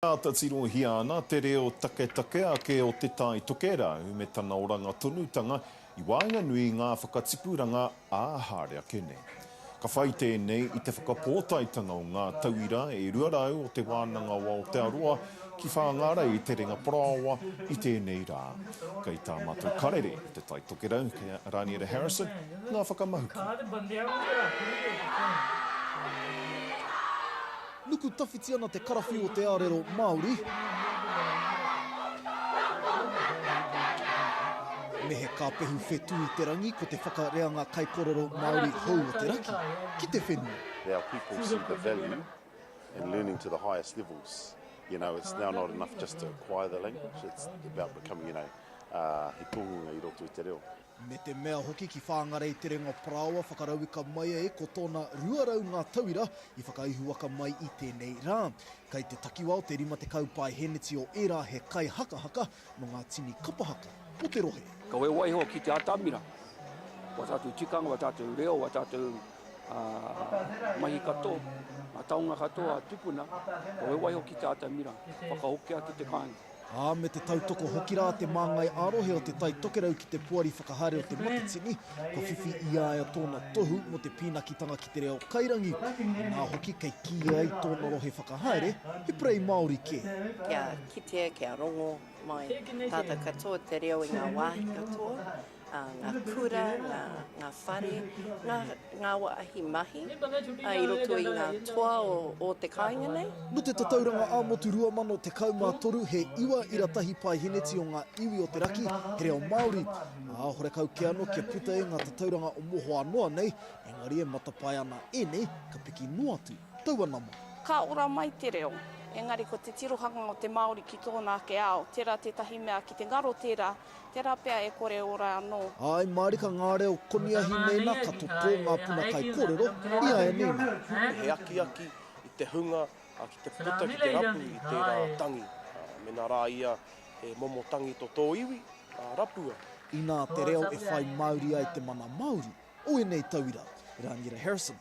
Āta tirohia ana te reo taketake ake o Te Tai Tokerau me tana oranga tonutanga i waenganui i ngā whakatipuranga ā haere ake nei. Ka whai tēnei i te whakapōtaetanga o ngā tauira e 200 o Te Wānanga o Aotearoa ki Whāngārei i Te Ringa Parāoa i tēnei rā. Kei tā Matou Karere o Te Tai Tokerau, kei a Raniera Harrison, ngā whakamahuki. Nuku tawhiti ana te karawhiu o te arero Māori. Me he kāpehu whetū i te rangi ko te whakareanga kaikorero Māori hou o te raki ki te whenua. Our people see the value in learning to the highest levels. You know, it's now not enough just to acquire the language, it's about becoming, you know, he tōngunga i roto i te reo. me te mea hoki ki Whāngarei Te Renga Parāoa whakarauika mai ai ko tōna 200 ngā tauira i whakaihuwaka mai i tēnei rā. Kei te takiwa o te 50 paeheneti o ērā he kaihakahaka nō ngā tini kapahaka o te rohe. Kawe waiho ki te atamira, wā tātou tikanga, wā tātou reo, wā tātou mahi katoa, ngā taonga katoa a tupuna, kawe waiho ki te atamira, whakahokia ki te kāinga. ā, me te tautoko hoki rā te māngai ā-rohe o Te Tai Tokerau ki te Poari Whakahaere o Te Matatini, kua whiwhi i a ia tōna tohu mō te pīnakitanga ki te reo kairangi, inā hoki kei kīia ai tōna rohe whakahaere he purei Māori kē. Kia kitea, kia rongo mai tātou katoa te reo i ngā wāhi katoa, ngā kura, ngā, ngā whare, ngā, ngā wāhi mahi i roto i ngā toa o, o te kāinga nei. Nō te Tatauranga ā-Motu 2013 he iwa ira tahi paeheneti o ngā iwi o te raki, he reo Māori, ā, horekau kē anō kia puta e ngā tatauranga o mohoa noa nei, engari e matapae ana ēnei, ka piki noa atu taua nama. Ka ora mai te reo, engari ko te tirohanga o te Māori ki tōna ake ao, tērā tētahi mea ki te ngaro tērā, Tērā pea e kore ora anō. Āe mārika ngā reo koniahi mēnā ka totō ngā puna kaikōrero i a ēnei nā. He akiaki i te hunga ki te puta ki te rapu i tērā tangi. Mēnā rā ia he momo tangi to tō iwi, rapua. Inā te reo e whai māuri ai te mana Māori o ēnei tauira. Rāngira Harrison.